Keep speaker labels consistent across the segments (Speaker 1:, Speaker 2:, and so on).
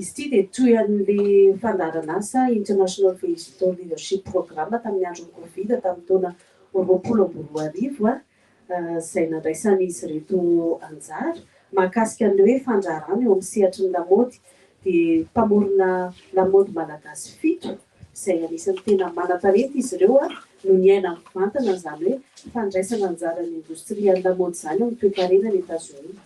Speaker 1: Izy ity dia toy an'ilay fandaharan'asa International Digital Leadership Program tamin'ny andron'ny Covid tamin'ny taona roapolo amby roa arivo izay nandraisan'izy ireto anjara. Mahakasika an'ilay hoe fandraharahana eo amin'ny sehatry ny lamaody dia mpamorona lamaody malagasy fito izay anisan'ny tena manan-talenta izy ireo no niaina mivantana an'izany hoe fandraisana anjaran'ny indostrian'ny lamaody izany eo amin'ny toekarena any Etazonia.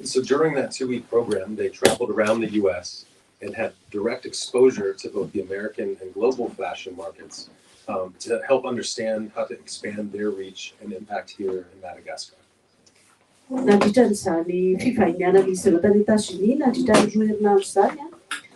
Speaker 2: So during that two week program they traveled around the US and had direct exposure to both the American and global fashion markets um, to help understand how to expand their reach and impact here in Madagascar. Nandritra an'izany
Speaker 1: fivahiniana izy ireo tany Etazonia nandritra ny roa herinandro izany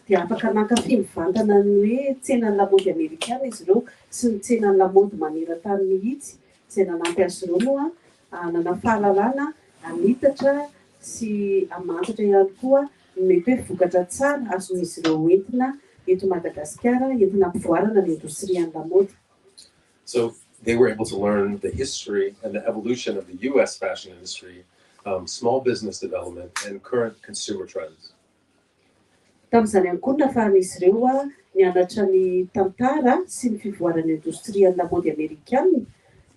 Speaker 1: dia afaka nankafy mivantana ny hoe tsenan'ny lamaody amerikana izy ireo sy ny tsenan'ny lamaody maneran-tany mihitsy izay nanampy azy ireo moa Hanana fahalalana hanitatra sy hamantatra ihany koa ny mety hoe vokatra tsara azon'izy ireo hoentina eto Madagasikara entina hampivoarana ny indostrian'ny lamaody. So
Speaker 2: they were able to learn the history and the evolution of the US fashion industry, small business development and current consumer trends.
Speaker 1: Tamin'izany ihany koa no nafahan'izy ireo nianatra ny tantara sy ny fivoaran'ny indostrian'ny lamaody amerikana,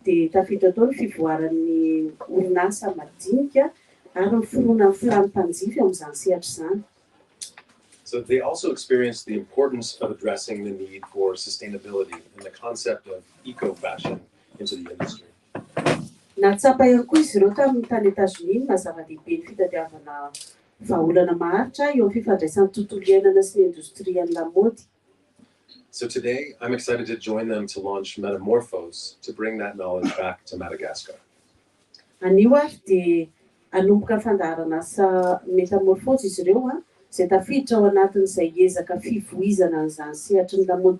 Speaker 1: dia tafiditra tao ny fivoaran'ny orinasa madinika ary ny fironan'ny filàn'ny mpanjifa eo amin'izany sehatra izany.
Speaker 2: So they also experienced the importance of addressing the need for sustainability and the concept of eco-fashion into the industry. Nahatsapa
Speaker 1: hery koa izy ireo tamin'ny tany Etazonia ny maha-zava-dehibe ny fitadiavana vahaolana maharitra eo amin'ny fifandraisan'ny tontolo iainana sy ny indostrian'ny lamaody. So
Speaker 2: today I'm excited to join them to launch Metamorphose to bring that knowledge back to Madagascar. Anio
Speaker 1: ary dia hanomboka fandaharan'asa Metamorphose izy ireo izay tafiditra ao anatin'izay ezaka fivoizana an'izany sehatry ny lamaody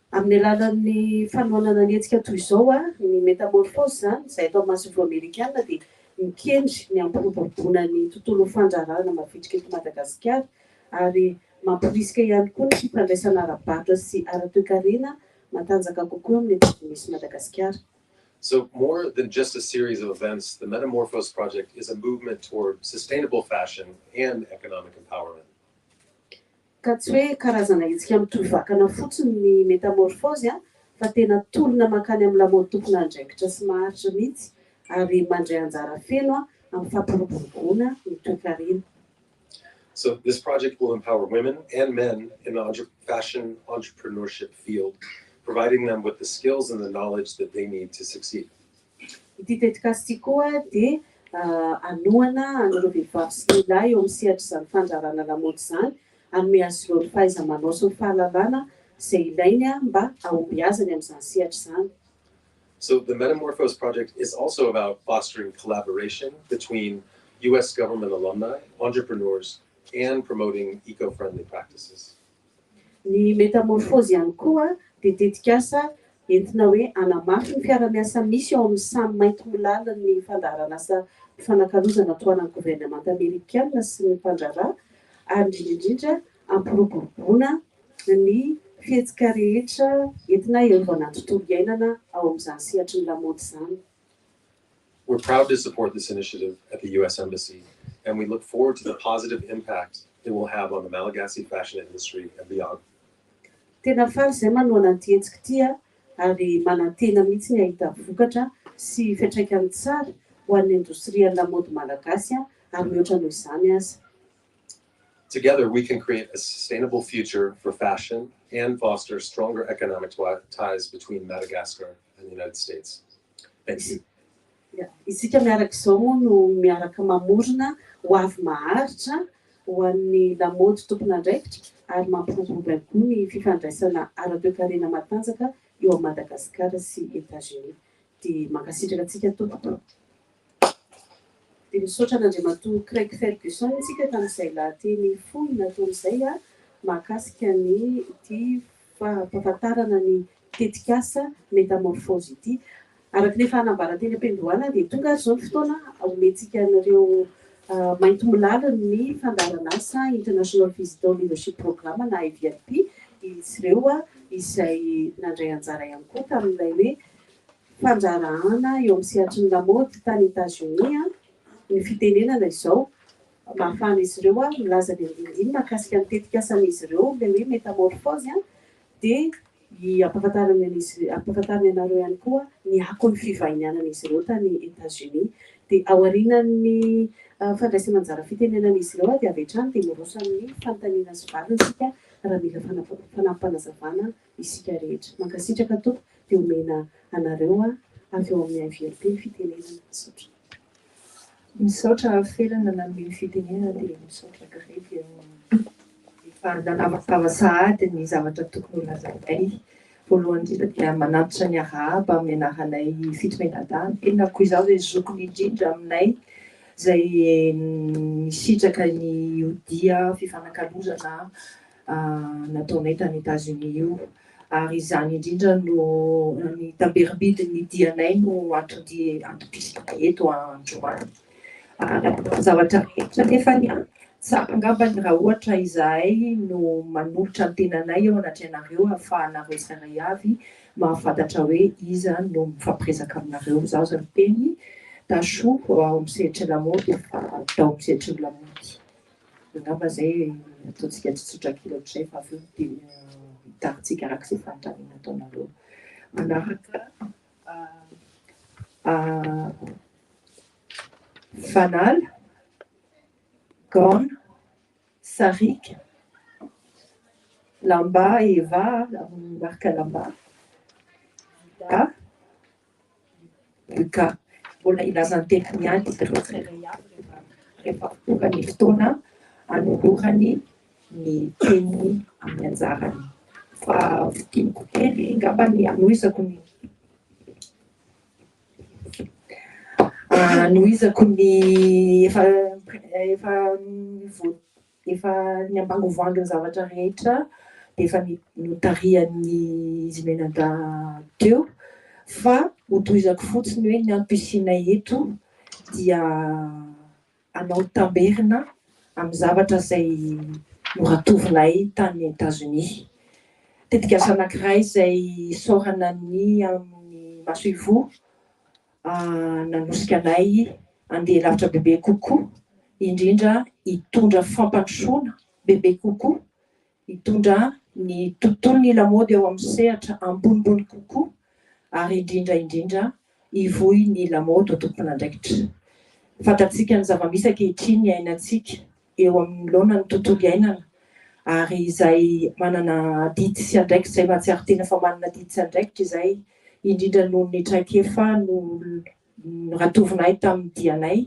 Speaker 1: Amin'ny alalan'ny fanohanana ny hetsika toy izao, ny Metamorphose izany, izay eto amin'ny masoivoho amerikana dia mikendry ny hampiroboroboana ny tontolon'ny fandraharahana mavitrika eto Madagasikara ary mamporisika ihany koa ny fifandraisana ara-barotra sy ara-toekarena matanjaka kokoa amin'ny ambanivohimisy Madagasikara. So,
Speaker 2: more than just a series of events, the Metamorphose Project is a movement toward sustainable fashion and economic empowerment.
Speaker 1: ka tsy hoe karazana hetsika mitohy vakana fotsiny ny metamorfozy fa tena tolona mankany amin'ny lamaody tompon'andraikitra sy maharitra mihitsy ary mandray anjara feno amin'ny fampiroboroboana ny toekarena.
Speaker 2: So this project will empower women and men in the entre fashion entrepreneurship field, providing them with the skills and the knowledge that they need to succeed. Ity
Speaker 1: tetikasa ity koa dia hanohana an'ireo vehivavy sy lehilahy eo amin'ny sehatr'izany fandrarana lamaody izany, hanome azy ireo ny fahaiza-manao sy ny fahalalana izay ilainy mba hahombiazany amin'izany sehatra izany. So the
Speaker 2: Metamorphose Project is also about fostering collaboration between US government alumni, entrepreneurs and promoting eco-friendly practices. Ny
Speaker 1: Metamorphose ihany koa dia tetikasa entina hoe hanamafy ny fiarahamiasa misy eo amin'ny samy maintimolalin'ny fandaharanasa fifanakalozana tohanan'ny governemanta amerikana sy ny mpandraharaha ary indrindra indrindra hampiroboroboana ny fihetsika rehetra entina hiarovana ny tontolo iainana ao amin'izany sehatry ny lamaody izany.
Speaker 2: We're proud to support this initiative at the US Embassy and we look forward to the positive impact it will have on the Malagasy fashion industry and beyond. Tena
Speaker 1: faly izay manohana an'ity hetsika ity aho ary manantena mihitsy ny hahita vokatra sy fiantraikany tsara ho an'ny indostrian'ny lamaody malagasy ary mihoatra noho izany aza.
Speaker 2: Together we can create a sustainable future for fashion and foster stronger economic ties between Madagascar and the United States. Thank you.
Speaker 1: Isika miaraka izao moa no miaraka mamorona ho avy maharitra ho an'ny lamaody tompon'andraikitra ary mampiroborobo ihany koa ny fifandraisana ara-toekarena matanjaka eo amin'i Madagasikara sy Etats-Unis. Dia mankasitraka antsika tompoko. Dia misaotra an'Andriamatoa Craig Ferguson isika tamin'izay lahateny fohy nataony izay mahakasika ny ity fampahafantarana ny tetikasa Métamorphose ity. Araka ny efa anambara teny am-piandohana dia tonga ary izao ny fotoana omentsika an'ireo maintimolaly ny fandaharan'asa International Visitor Leadership Programme na IVLP izy ireo izay nandray anjara ihany koa tamin'ilay hoe fandrarahana eo amin'ny sehatry ny lamaody tany Etazonia ny fitenenana izao mahafahana izy ireo milaza ny andinindiny mahakasika ny tetikasan'izy ireo ilay hoe metamorphose dia hampahafantariny an'izy hampahafantariny anareo ihany koa ny akon'ny fivahinianan'izy ireo tany Etazonia dia aorianan'ny fandraisana anjara fitenenan'izy ireo dia avy hatrany dia miroso amin'ny fanontaniana sy valiny isika raha mila fanampampanazavana isika rehetra. Mankasitraka Tompo de omena anareo a avy ao amin'ny AVRP ny fitenenana. Misaotra.
Speaker 3: Misaotra Rafelana nanome ny fitenenana dia misaotra Gré dia efa nanavakava sahady ny zavatra tokony ho lazainay. Voalohany indrindra dia manantitra ny arahaba amin'ny anaranay Fito Menadahy, tenako izaho izay zokiny indrindra aminay izay nisitraka ny io dia fifanakalozana nataonay tany Etazonia io, ary izany indrindra no ny tamberim-bidin'ny dianay no antony antom-pisianay eto androany. Nataonay zavatra rehetra nefa ny an, tsara angambany raha ohatra izahay no manolotra ny tenanay eo anatrehanareo ahafahanareo isairay avy mahafantatra hoe iza no mifampiresaka aminareo. Izaho izao miteny, Tachou, ao amin'ny sehatry ny lamaody, fa tao amin'ny sehatry ny lamaody. Angamba izay ataontsika tsotsotra kely ohatr'izay fa avy eo dia hitarintsika araka izay fanontaniana ataonareo. Manaraka fanala, gaona, sarika, lamba eva, marika lamba, da. DK, mbola hilaza ny tenany ihany izy ireo tsirairay avy rehefa rehefa avy tonga ny fotoana hanolorany ny teniny amin'ny anjarany. Fa fintiniko kely angamba ny hanohizako ny hanohizako ny efa efa ny voa Efa ny ambangovangony zavatra rehetra dia efa notarihan'ny izy mianadahy teo fa ho tohizako fotsiny hoe ny antom-pisianay eto dia hanao tamberina amin'ny zavatra izay noratovinay tany Etazonia. Tetikasa anankiray izay isaorana ny amin'ny masoivoho. nanosika anay handeha lavitra bebe kokoa, indrindra hitondra fampandrosoana bebe kokoa, hitondra ny tontolon'ny lamaody ao amin'ny sehatra ambonimbony kokoa ary indrindra indrindra hivoy ny lamaody ho tompon'andraikitra. Fantatsika ny zava-misy ankehitriny iainantsika. eo anoloana ny tontolo iainana ary izay manana adidy sy andraikitra izay mahatsiaro tena fa manana adidy sy andraikitra izay indrindra noho ny traikefa noratovinay tamin'ny dianay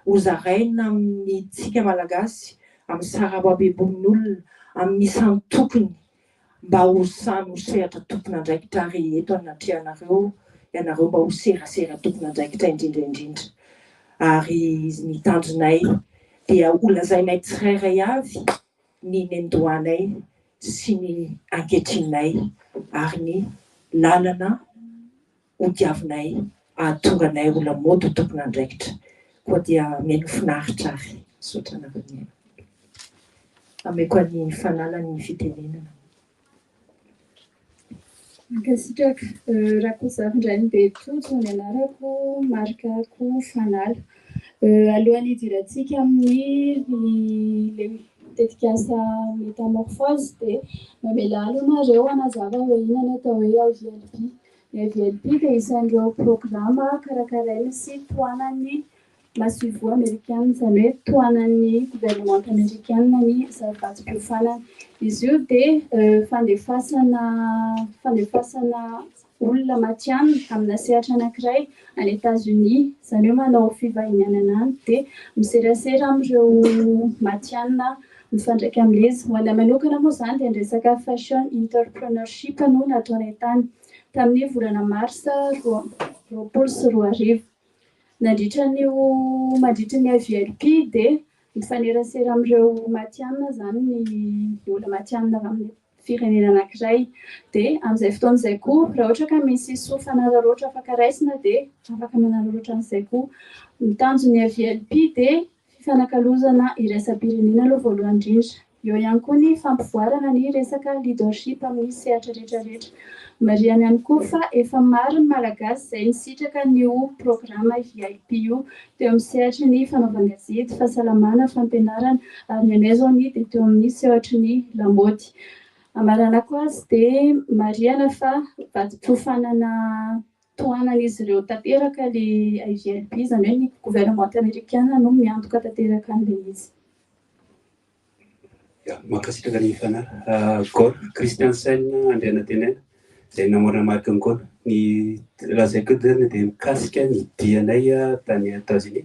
Speaker 3: ho zaraina amintsika Malagasy, amin'ny sarababem-bonin'olona, amin'ny isan-tokony. Mba ho samy ho sehatra tompon'andraikitra ary eto anatrehanareo ianareo mba ho serasera tompon'andraikitra indrindra indrindra. Ary ny tanjonay dia ho lazainay tsirairay avy ny nendohanay sy ny anketrinay ary ny lalana ho diavinay hahatonga anay ho lamaody ho tompon'andraikitra. Koa dia mihaino finaritra ary. Misaotra anareo nihaino. Ameko an'i Fanala ny fitenenana.
Speaker 4: Mankasitraka. Rakozafindrainibe Tojo ny anarako, marikako Fanala. Alohan'ny hidirantsika amin'ny tetikasa Métamorphose dia mamelà aloha nareo hanazava hoe inona ny atao hoe IVLP. Ny VLP dia isan'ireo programa karakaraina sy tohanan'ny masoivoho amerikana, izany hoe tohanan'ny governemanta amerikana ny zaridatim-piofanana. Izy io dia fandefasana fandefasana olona matihanina amina sehatra anankiray any Etazonia, izany hoe manao fivahinianana any dia miserasera amin'ireo matihanina Mifandraika amin'izy. Ho anay manokana moa izany dia ny resaka Fashion Interpreneurship no nataonay tany, tamin'ny volana marsa roa amby roapolo sy roa arivo. Nandritra an'io mandritry ny FVLP dia mifanerasera amin'ireo matihanina izany ny olona matihanina avy amin'ny firenena anankiray. Dia amin'izay fotoana izay koa, raha ohatra ka misy soa fanararaotra afaka raisina dia afaka manararaotra an'izay koa. Ny tanjon'ny FVLP dia fifanakalozana iraisam-pirenena aloha voalohany indrindra. Eo ihany koa ny fampivoarana ny resaka leadership amin'ny sehatra rehetrarehetra. Marihana ihany koa fa efa maro ny Malagasy izay nisitraka an'io programa VIP io teo amin'ny sehatry ny fanaovan-gazety, fahasalamana, fampianarana ary ny anay izao ny dia teo amin'ny sehatry ny lamaody. Amaranako azy dia marihana fa vatom-piofanana. Tohanan'izy ireo tanteraka ilay IVLB, izany hoe ny governemanta amerikana no miantoka tanteraka an'ilay izy.
Speaker 5: Mankasitraka ny fanara. Gol, Christiansen Andrianatenaina, izay namorona marque ny gol. Ny lazaiko eto izany dia mikasika ny dianay tany Etazonia.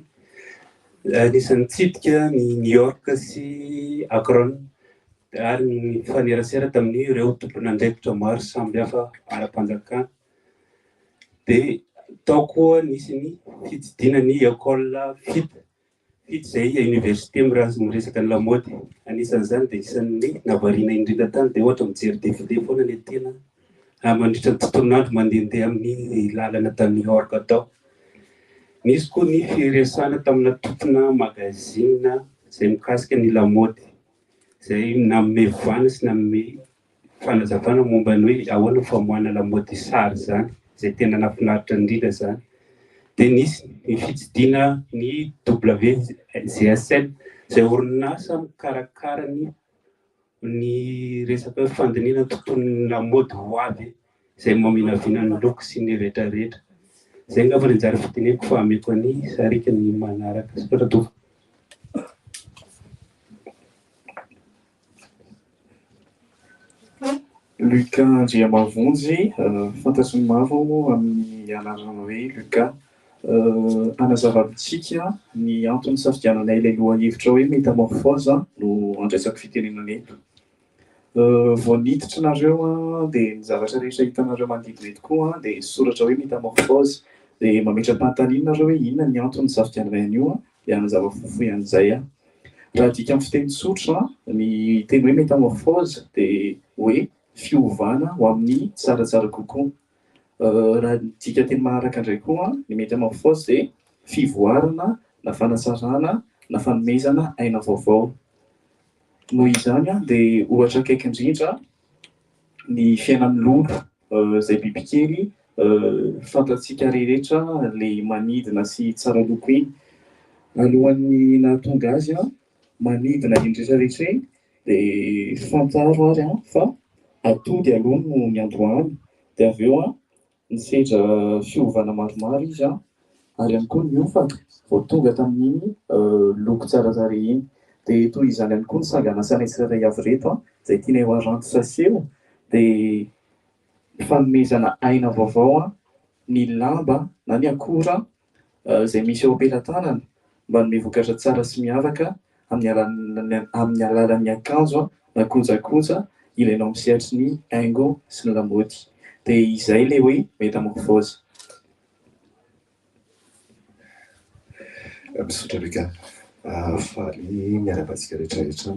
Speaker 5: Anisan'ny nitsidika ny New York sy Akron ary nifanerasera tamin'ireo tompon'andraikitra maro samihafa ara-panjakana. Dia tao koa nisy ny fitsidiana ny école fito, fito izay université miresaka ny lamaody. Anisan'izany dia isan'ny nahavariana indrindra tany dia ohatra mijery défilé foana ny antenany mandritra ny tontolon'andro mandehandeha amin'ny lalana tany New York tao. Nisy koa ny firesahana tamina tompona magazine izay mikasika ny lamaody, izay nanome vahana sy nanome fanazavana momba ny hoe ahoana ny famoahana lamaody sary izany izay tena nahafinaritra indrindra izany dia nisy ny fitsidihana ny WGSN izay orinasa mikarakara ny ny resaka fandinihana ny tontolon'ny lamaody ho avy izay maminavina ny loko sy ny retraretra. Izay angamba ny anjara fidineko fa hameko an'i Sariaka ny manaraka. Soratra doka.
Speaker 6: Luca Andriamavonjy, fantatry ny maro amin'ny anarana hoe Luca. Hanazava amintsika ny antony nisafidiananay ilay lohahevitra hoe metamorphose no andraisako fitenenana eto. Vao niditra nareo an, dia ny zavatra rehetra hitanareo manodidina eto koa an, dia soratra hoe metamorphose. Dia mametra-panontaniana nareo hoe inona ny antony nisafidianana an'io an, dia hanazava fohifohy an'izay aho. Raha adika amin'ny fiteny tsotra an, ny teny hoe metamorphose dia hoe fiovana ho amin'ny tsaratsara kokoa. Raha adika teny manaraka indray koa an, ny metamorphose dia fivoarana na fanatsarana na fanomezana aina vaovao. Noho izany dia ohatra akaiky indrindra ny fiainan'ny lolo izay bibikely fantatsika rehetra ilay manidina sy tsara loko iny. Alohan'ny nahatonga azy manidina iny rehetra rehetra iny dia fantaro ary fa atody aloha no niandohany dia avy eo Nisedra fiovana maromaro izy an, ary ihany koa niofana vao tonga tamin'iny loko tsara tarehy iny. Dia toy izany ihany koa ny sangan'asana tsirairay avy ireto an, izay tianay ho haranty saseho dia fanomezana aina vaovao an, ny lamba na ny akora izay misy eo am-pelatanana manome vokatra tsara sy miavaka amin'ny alalan'ny akanjo na kojakoja ilainao amin'ny sehatry ny haingo sy ny lamaody. Dia izay ilay hoe metamorphose.
Speaker 7: Misaotra Luca. Faly miarahaba antsika rehetra eto.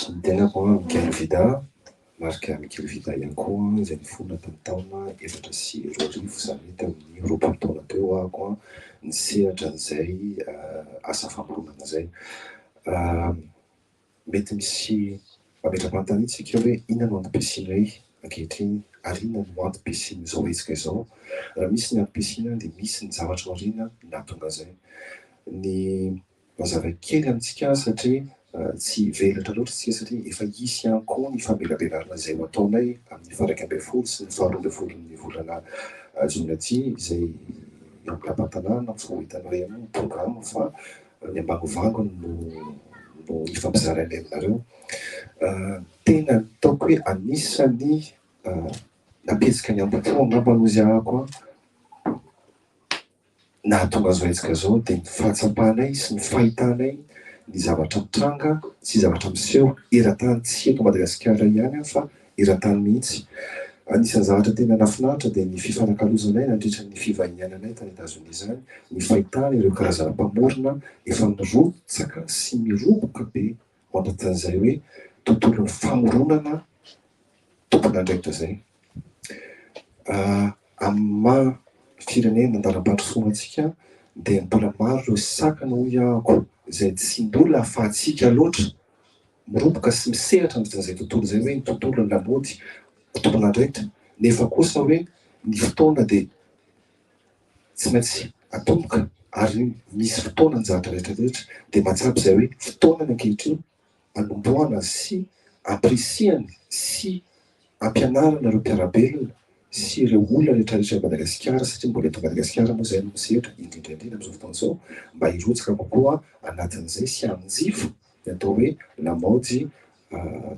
Speaker 7: Ny tenako an, Miguel Vida an, Marc Miguel Vida ihany koa an, izay nifona tamin'ny taona efatra sy roa arivo, izany hoe tamin'ny roapolo taona teo ho ako an, ny sehatra an'izay asa famoronana izay. Mety misy mametra-panontaniana isika hoe inona no antom-pisianay ankehitriny ary inona no antom-pisian'izao hetsika izao. Raha misy ny antom-pisiana dia misy ny zavatra aoriana nahatonga izay. Ny Mazava kely amintsika azy satria tsy hivelatra loatra isika satria efa hisy ihany koa ny famelabelarana izay ho ataonay amin'ny faha iraika ambin'ny folo sy ny faha roa ambin'ny folon'ny volana jona aty izay eo amin'ny lapantanàna fa ho hitanao ihany ny programme fa ny ambangovangony no no hifampizarainay aminareo. Tena ataoko hoe anisan'ny nampietsika ny ambohipo angamba no izy ahako an! Nahatonga azy ho hetsika izao dia ny fahatsapanay sy ny fahitanay ny zavatra mitranga sy zavatra miseho eran-tany, tsy eto Madagasikara ihany aho fa eran-tany mihitsy. Anisan'ny zavatra tena nahafinaritra dia ny fifanakalozanay nandritra ny fivahiniananay tany Etazonia izany, ny fahitana ireo karazana mpamorona efa mirotsaka sy miroboka be. Mampanontany izay hoe tontolon'ny famoronana tompon'andraikitra izay amin'ny maha firenena andalam-pandrosoana antsika dia mbola maro ireo sakana hoy aho izay tsy mbola ahafahantsika loatra miroboka sy misehatra ny vitan'izay tontolo izay hoe ny tontolon'ny lamaody tompon'andraikitra nefa kosa hoe ny fotoana dia Tsy maintsy atomboka ary misy fotoana anjara rehetra rehetra dia mahatsapa izay hoe fotoana ny ankehitriny anombohana sy ampirisihana sy ampianarana ireo mpiara-belona sy ireo olona rehetra rehetra eto Madagasikara satria mbola eto Madagasikara moa izay no misedra indrindra indrindra amin'izao fotoana izao mba hirotsaka kokoa anatin'izay sy hanjifa ny atao hoe lamaody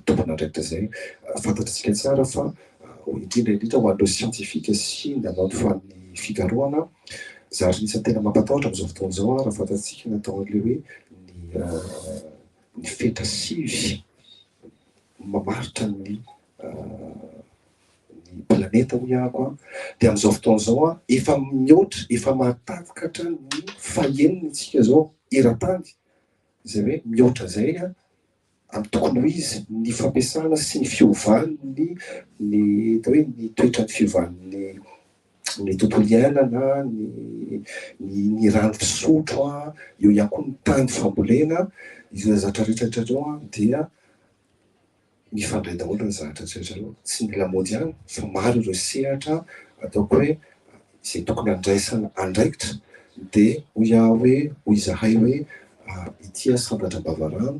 Speaker 7: tompon'andraikitra izay fantatr'isika tsara fa indrindra indrindra ho an'ireo siantifika sy nanao ny fikarohana zary anisan'ny tena mampatahotra amin'izao fotoana izao raha fantatsika ny atao an'ilay hoe ny ny fetra sivy mamaritra ny ny planeta hoy ahako dia amin'izao fotoana izao efa mihoatra efa mahatakatra hatrany ny fahenina isika izao eran-tany izay hoe mihoatra izay Ary tokony ho izy ny fampiasana sy ny fiovan'ny ny atao hoe ny toetran'ny fiovan'ny ny tontolo iainana, ny ny rano fisotro an, eo ihany koa ny tany fambolena, izay zatra rehetra rehetra ireo an dia mifandray daholo ny zatra rehetra rehetra ireo, tsy ny lamaody ihany fa maro ireo sehatra ataoko hoe izay tokony handraisana andraikitra dia hoy aho hoe, hoy izahay hoe, ity Asandratra Ambavarano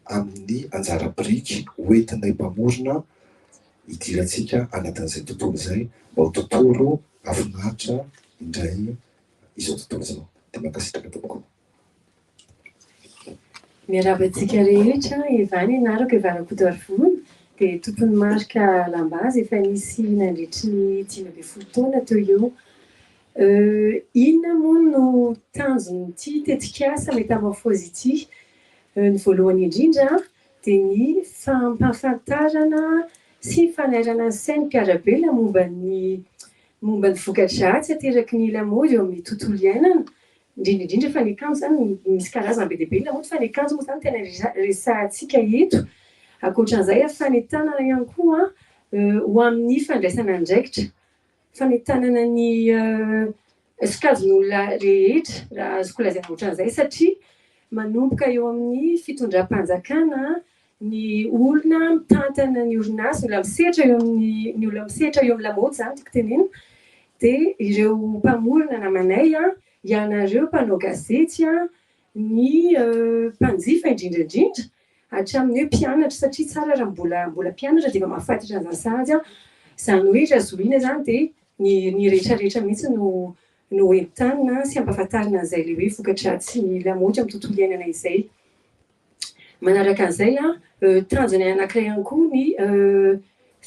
Speaker 7: amin'ny anjara biriky hoentinay mpamorona hidirantsika anatin'izay tontolo izay mba ho tontolo hafinaritra indray izao tontolo izao. Dia mankasitraka tompoko.
Speaker 8: Miarahaba antsika rehetra, Eva ny anarako, Eva Rakotoarivony, dia tompon'ny marika Lambazy efa nisy nandritry ny dimy ambin'ny folo taona teo eo. Inona moa no tanjon'ity tetikasa Métamorphose ity? Ny voalohany indrindra dia ny fampahafantarana sy ny fanairana ny sain'ny mpiara-belona momba ny momba ny voka-dratsy ateraky ny lamaody eo amin'ny tontolo iainana, indrindra indrindra fa ny kanjo zany misy karazany be dia be ny lamaody fa ny kanjo moa zany tena resahantsika eto, ankoatran'izay a fa ny tanana ihany koa ho amin'ny fandraisana andraikitra fa ny tanana ny sokajin'olona rehetra raha azoko lazaina ohatran'izay satria manomboka eo amin'ny fitondram-panjakana ny olona mitantana ny orinasa, olona misedra eo amin'ny, ny olona misedra eo amin'ny lamaody zany tiako tenenina, dia ireo mpamorona namanay, ianareo mpanao gazety, ny mpanjifa indrindra indrindra, hatramin'ny hoe mpianatra, satria tsara raha mbola mbola mpianatra dia efa mahafantatra an'izany sahaza aho, izany hoe raha zohiana izany dia ny ny rehetra rehetra mihitsy no no hoentanina sy hampahafantarina an'izay le hoe voka-dratsin'ny lamaody amin'ny tontolo iainana izay. Manaraka an'izay, tanjona anankiray ihany koa ny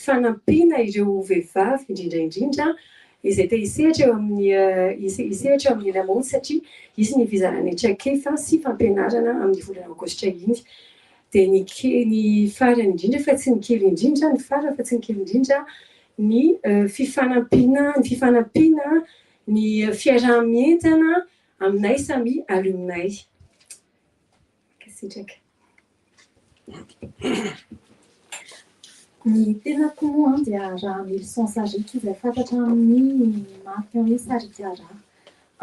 Speaker 8: fanampiana ireo vehivavy indrindra indrindra izay te hisehatra eo amin'ny hisehatra eo amin'ny lamaody satria hisy ny fizarana traikefa sy fampianarana amin'ny volana aogositra iny. Dia ny kely ny farany indrindra fa tsy ny kely indrindra, ny farany fa tsy ny kely indrindra ny fifanampiana ny fifanampiana ny fiaraha-mientana aminay samy alumni. Mankasitraka.
Speaker 9: Ny tenako moa dia Rahamilison Sariaka izay fantatra amin'ny marika hoe Sariaka Raha.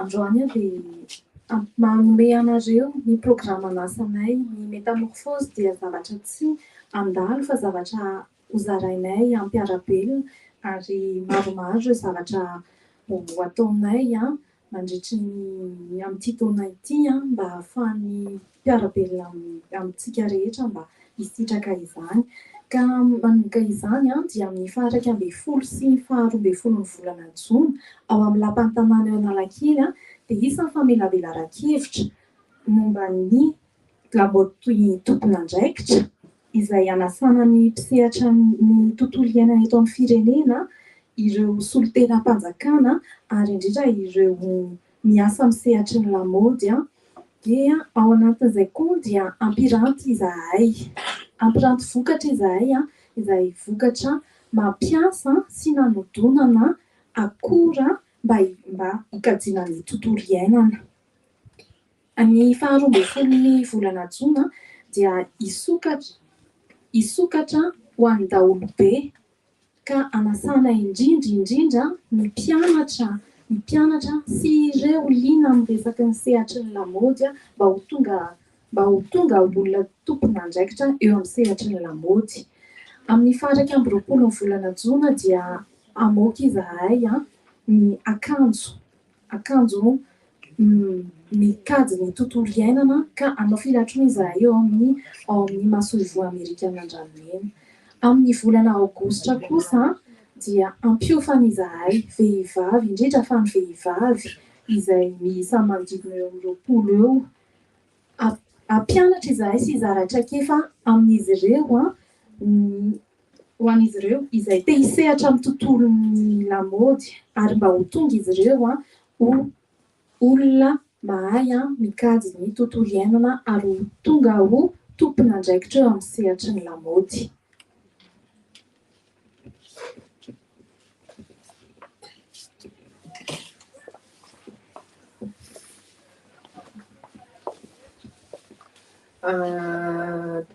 Speaker 9: Androany aho dia manome anareo ny programan'asanay. Ny metamorphose dia zavatra tsy handalo fa zavatra hozarainay hampiara-belona ary maromaro ireo zavatra ho ataonay mandritry ny amin'ity taona ity mba hahafahan'ny mpiara-belona amintsika rehetra mba hisitraka izany. Ka manomboka izany dia amin'ny faha iraika ambin'ny folo sy ny faha roa ambin'ny folon'ny volana jona ao amin'ny lapan'ny tanàna eo Analakely dia hisy ny famelabelaran-kevitra momba ny Gabot toy tompon'andraikitra izay hanasana ny mpisehatra ny tontolo iainana eto amin'ny firenena, ireo solontenam-panjakana ary indrindra ireo miasa amin'ny sehatry ny lamaody dia ao anatin'izay koa dia hampiranty izahay, hampiranty vokatra izahay izay vokatra mampiasa sy nanodonana akora mba hikajiana ny tontolo iainana. Ny faha roa ambin'ny folo ny volana jona dia hisokatra hisokatra ho an'ny daholobe ka hanasana indrindra indrindra ny mpianatra ny mpianatra sy ireo liana amin'ny resaky ny sehatry ny lamaody mba ho tonga mba ho tonga ho olona tompon'andraikitra eo amin'ny sehatry ny lamaody. Amin'ny faha iraika amby roapolo ny volana jona dia hamoaka izahay ny akanjo. akanjo mikajy ny tontolo iainana ka hanao filatroana izahay eo amin'ny ao amin'ny masoivoho amerikana Andranomena. Amin'ny volana aogositra kosa dia hampiofana izahay vehivavy, indrindra fa ny vehivavy izay miisa manodidina eo amin'ny roapolo eo, hampianatra izahay sy hizara traikefa amin'izy ireo ny ho an'izy ireo izay te hisehatra amin'ny tontolon'ny lamaody ary mba ho tonga izy ireo ho olona mahay mikajy ny tontolo iainana ary ho tonga ho tompon'andraikitra eo amin'ny sehatry ny lamaody.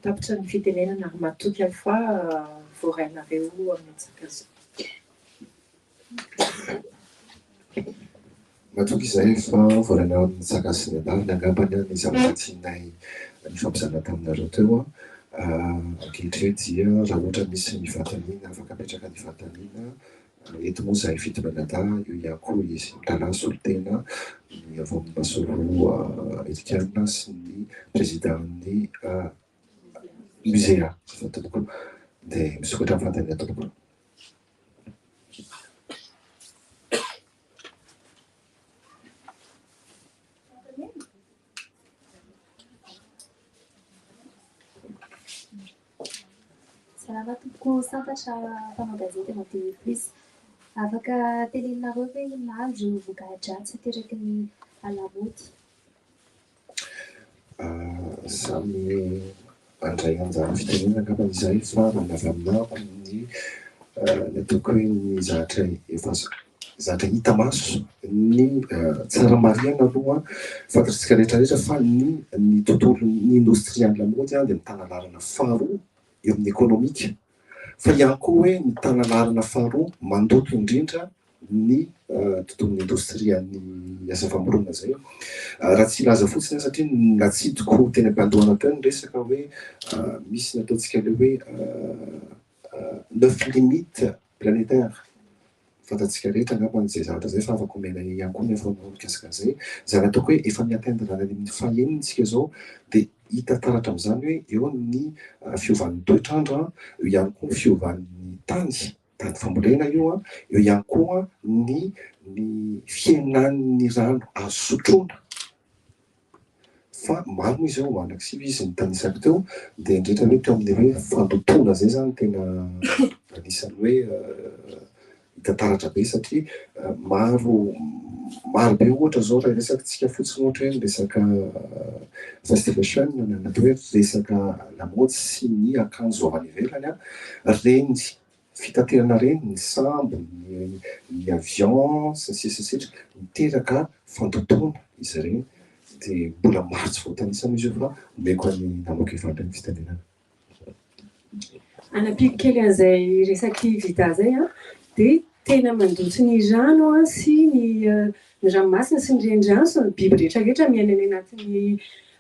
Speaker 3: tapitra ny fitenenana ary matoky aho fa voarainareo amin'ny antsakazao.
Speaker 7: Matoky izay efa volana eo amin'ny Saka sy ny Andavony angambany ny zavatra tianay nifampizara taminareo teo. Ankehitriny dia raha ohatra misy ny fanontaniana afaka apetraka ny fanontaniana eto moa izahay fito mianadahy, eo ihany koa izy mitalaha solontena ny avy ao amin'ny Masoloha Amerikana sy ny Prezidan'ny Musea. Izay tompoko. Dia misokatra ny fanontaniana tompoko.
Speaker 10: Salama tompoko santatra mpanao gazety madio eto plus. Afaka teneninareo ve inona avy ireo voka-dratsy ateraky ny hala-mody?
Speaker 7: Samy handray anjara fitenenana angambany izahay fa raha ny avy amin'ako ny ataoko hoe ny zatra efa zatra hita maso ny tsara marihana aloha fantatsika rehetrarehetra fa ny ny tontolon'ny indostria ny lamaody dia mitana laharana faharoa eo amin'ny ekonomika. Fa ihany koa hoe ny tanan'arina faharoa mandoto indrindra ny tontolon'ny indostrian'ny asa famorona izay raha tsy hilaza fotsiny aho satria natsidiko teny am-pandohana teo ny resaka hoe misy ny ataontsika ilay hoe neuf limites planétaires fantatsika rehetra angamba izay zavatra izay fa afaka omena ahy ihany koa ny information mikasika an'izay. Izany ataoko hoe efa mi-atteindre any amin'ny fahenina isika izao dia hita taratra amin'izany hoe eo ny fiovan'ny toetr'andro, eo ihany koa ny fiovan'ny tany, tany fambolena io, eo ihany koa ny ny fihenan'ny rano azo sotroina. Fa maro moa izao mandrakizay hoy izy nitanisako teo dia nirehitra hoe teo amin'ny hoe fandotoana izay izany tena anisan'ny hoe hita taratra be satria maro maro be ohatra izao raha resakintsika fotsiny ohatra hoe ny resaka fast fashion na ny atao hoe resaka lamaody sy ny akanjo avy any ivelany a, renjy fitaterana ireny, ny sambo, ny avion, sy ny sisa sy ny sisa, miteraka fandotoana izy ireny, dia mbola maro tsy voatanisa moa izy io fa omeko an'i Namako Eva indray ny fitenenana. Hanampiako
Speaker 8: kely an'izay resaky Vida izay an, dia tena mandoto ny rano sy ny ny ranomasina sy ny renirano sy ny biby rehetra rehetra miaina any anatin'ny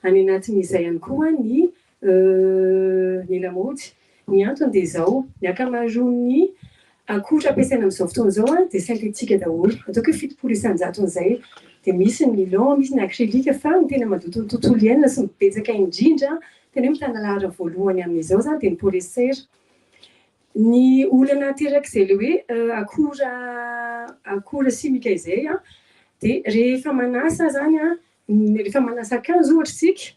Speaker 8: any anatin'izay ihany koa ny Euh, ny lamaody. Ny antony dia izao, ny ankamaroan'ny akora ampiasaina amin'izao fotoana izao dia synthétique daholo, ataoko hoe fitopolo isan-jaton'izay. Dia misy ny nylon, misy ny acrylique, fa ny tena mandoto ny tontolo iainana sy ny betsaka indrindra, tena hoe mitana laharana voalohany amin'izao izany dia ny polyester. Ny olana aterak'izay ilay hoe akora akora simika izay dia rehefa manasa izany, rehefa manasa akanjo ohatra isika,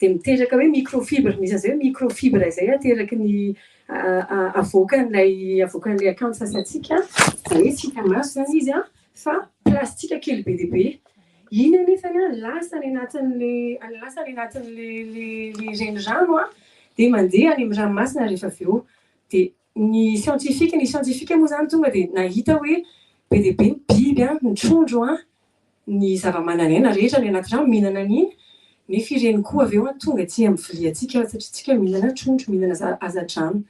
Speaker 8: Dia miteraka hoe microfibre, misy an'izay hoe microfibre izay ateraky ny avoakan'ilay avoakan'ilay akanjo sasantsika, izany hoe tsy hita maso izany izy an, fa plastika kely be dia be. Iny anefa an, lasa any anatin'ilay lasa any anatin'ilay ilay renirano an, dia mandeha any amin'ny ranomasina rehefa avy eo. Dia Ny siantifika, ny siantifika moa izany tonga dia nahita hoe be dia be ny biby, ny trondro, ny zava-manan'aina rehetra any anaty rano mihinana an'iny, nefa ireny koa avy eo tonga tsy amin'ny viliantsika satria isika mihinana trondro, mihinana hazan-drano.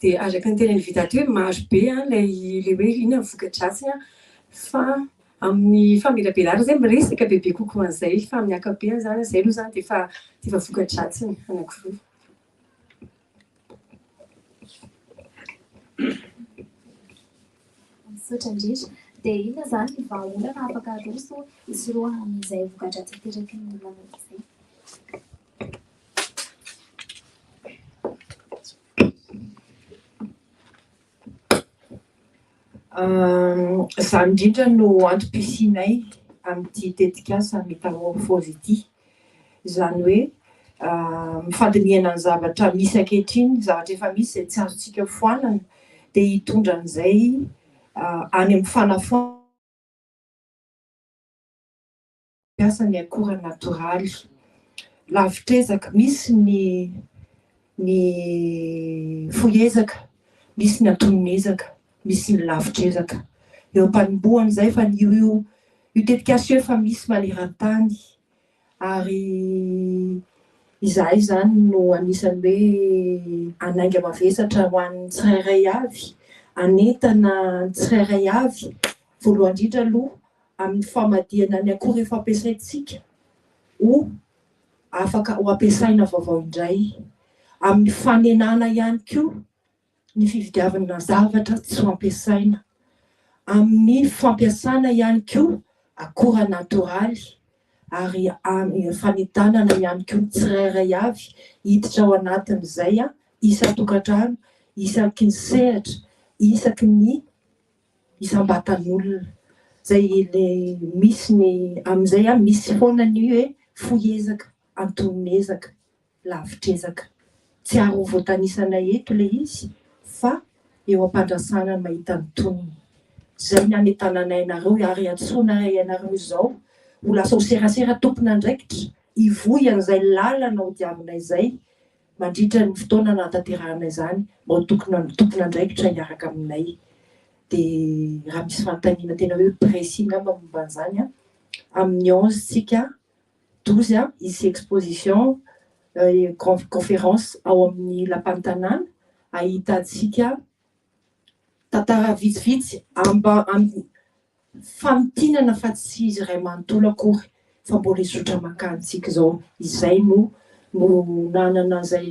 Speaker 8: Dia araka ny tenin'i Vida teo hoe marobe ilay hoe inona ny voka-dratsiny fa amin'ny famelabelarana izay miresaka bebe kokoa an'izay fa amin'ny ankapobeny izany izay aloha izany dia efa voka-dratsiny anankiroa.
Speaker 10: Misaotra indrindra. Dia inona izany ny vahaolana afaka aroso hisorohana an'izay voka-dratsy ateraky ny lamody izay? Izany
Speaker 3: indrindra no antom-pisianay amin'ity tetikasa Metamorphose ity. Izany hoe mifandinihana ny zavatra misy ankehitriny, zavatra efa misy izay tsy azontsika foanana dia hitondra an'izay any amin'ny fanafoanana ny akora natoraly. Lavitr'ezaka, misy ny ny fohy ezaka, misy ny antonony ezaka, misy ny lavitr'ezaka. Eo am-panombohany izay fa ny io io tetikasa io efa misy maneran-tany ary izahay izany no anisan'ny hoe hanainga mavesatra ho an'ny tsirairay avy, hanentana ny tsirairay avy voalohany indrindra aloha amin'ny famadihana ny akora efa ampiasaintsika ho afaka ho ampiasaina vaovao indray amin'ny fanenana ihany koa ny fividiavana zavatra tsy ho ampiasaina, amin'ny fampiasana ihany koa akora natoraly ary amin'ny fanentanana ihany koa ny tsirairay avy hiditra ao anatin'izay isan-tokantrano isaky ny sehatra isaky ny isam-batan'olona zay le misy ny amin'izay a misy foana ny hoe fohy ezaka, antonon'ezaka, lavitr'ezaka. Tsy ary ho voatanisa-nay eto le izy fa eo am-pandrasana ny mahita ny tonony. Zay ny hametananay anareo ary iantsoanay ianareo izao ho lasa ho serasera tompon'andraikitra hivohy an'izay lalana hodiavinay zay Mandritra ny fotoana nahatanterahana izany, mba ho tompon'andraikitra hiaraka aminay. Dia raha misy fanontaniana tena hoe précis angamba momba an'izany an, amin'ny onze tsika, douze an, hisy exposition, conférence, ao amin'ny Lapan'ny Tanàna, ahitantsika Tantara vitsivitsy amba amin'ny famintinana fa tsy izy iray manontolo akory fa mbola hizotra mankany tsika izao izay no no nanana izay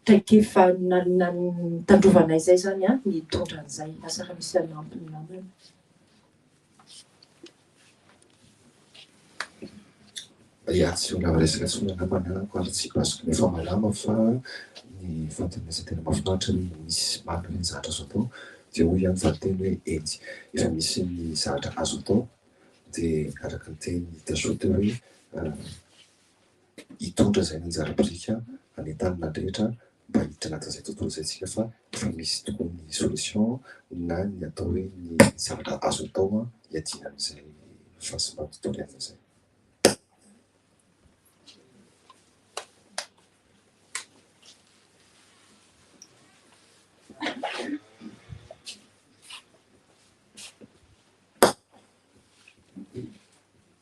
Speaker 3: traikefa nitandrovana izay izany an ny hitondra an'izay asa raha misy hanampy ny namana.
Speaker 7: Reaction lava resaka tsy miala mananako ary tsy basiko nefa malama fa ny fantenaza tena mafinaritra ny misy marina ireny zahatra azo atao dia hoy ihany valinteny hoe eny efa misy ny zahatra azo atao dia araka ny teny Tashote hoe hitondra izay nanjary biriky hanentanana ny rehetra mba hiditra anatin'izay tontolo izay isika fa efa misy tokoa ny solution na ny atao hoe ny zavatra azo atao hiadiana amin'izay fahasimban'ny tontolo iainana izay.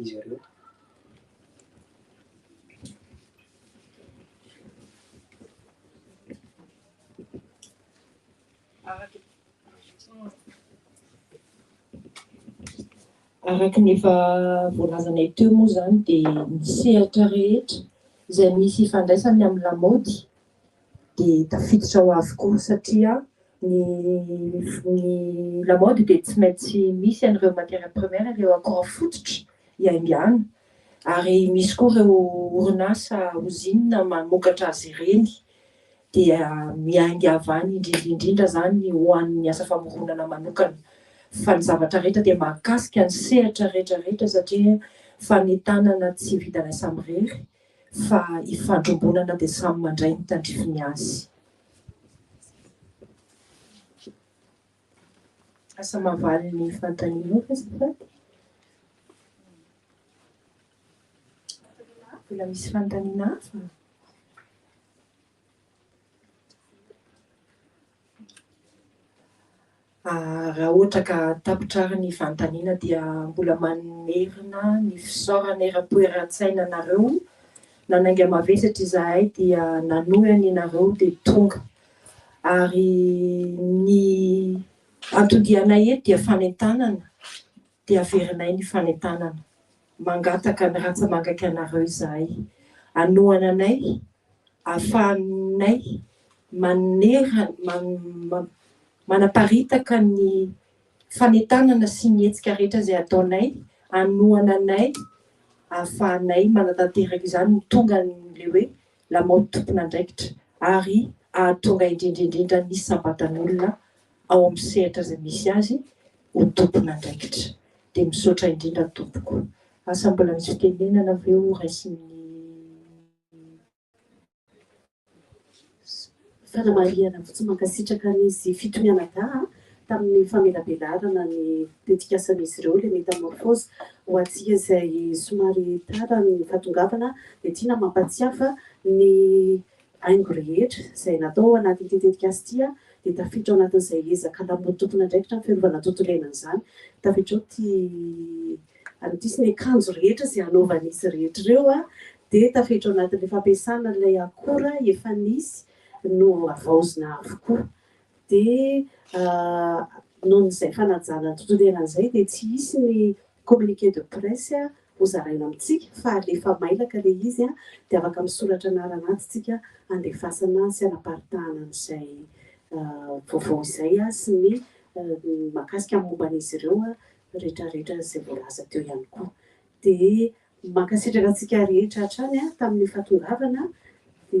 Speaker 11: izy
Speaker 3: ireo. Araka ny efa voalazanay teo moa izany dia ny sehatra rehetra izay misy ifandraisany amin'ny lamaody, dia tafiditra ao avokoa satria ny ny lamaody dia tsy maintsy misy an'ireo matières premières ireo akora fototra iaingan'ny ary misy koa ireo orinasa ozinina mamokatra azy ireny dia miainga avy any indrindra indrindra izany ho an'ny asa famoronana manokana fa ny zavatra rehetra dia mahakasika ny sehatra rehetra rehetra satria fanentanana tsy vitanay samirery fa ifandrombonana dia samy mandray ny tandrifiny azy. Asa mahavaly ny fanontanianao ve azafady? Mbola misy fanontaniana hafa? Raha ohatra ka tapitra ary ny fanontaniana dia mbola mamerina ny fisaorana eran-toeran-tsaina anareo, nanainga mavesatra izahay dia nanohy an' ianareo dia tonga. Ary ny anton-dianay eto dia fanentanana dia averinay ny fanentanana, mangataka ny rantsamangaka anareo izahay, hanohana anay ahafahanay maneran man man manaparitaka ny fanentanana sy ny hetsika rehetra izay ataonay, hanohana anay ahafahanay manatanteraka izany ho tonga an'ilay hoe lamaody tompon'andraikitra ary hahatonga indrindra indrindra ny sampatan'olona ao amin'ny sehatra izay misy azy ho tompon'andraikitra. Dia misaotra indrindra tompoko. Asa mbola misy fitenenana ve ho raisin'ny
Speaker 1: fanamarihana fotsiny mankasitraka an'izy fito mianadahy tamin'ny famelabelarana ny tetikasan'izy ireo ilay metamorphose ho antsika izay somary tara ny fahatongavana dia tiana mampatsiahy fa ny haingo rehetra izay natao ao anatin'ity tetikasa ity dia tafiditra ao anatin'izay ezaka lamaody tompon'andraikitra amin'ny fiarovana ny tontolo iainana izany. Tafiditra ao ity an'ity izy ity, ny akanjo rehetra izay hanaovan'izy rehetra ireo dia tafiditra ao anatin'ilay fampiasana an'ilay akora efa nisy no havaozina avokoa. Dia noho izay fanajana ny tontolo iainana izay dia tsy hisy ny Communiqué de presse ho zaraina amintsika fa alefa mailaka le izy de afaka misoratra anarana atsy tsika andefasana sy anaparitahana an'izay vaovao izay sy ny makasika ny momba an'izy ireo retraretra izay voalaza teo ihany koa. De mankasitraka antsika rehetra hatrany tamin'ny fahatongavana de.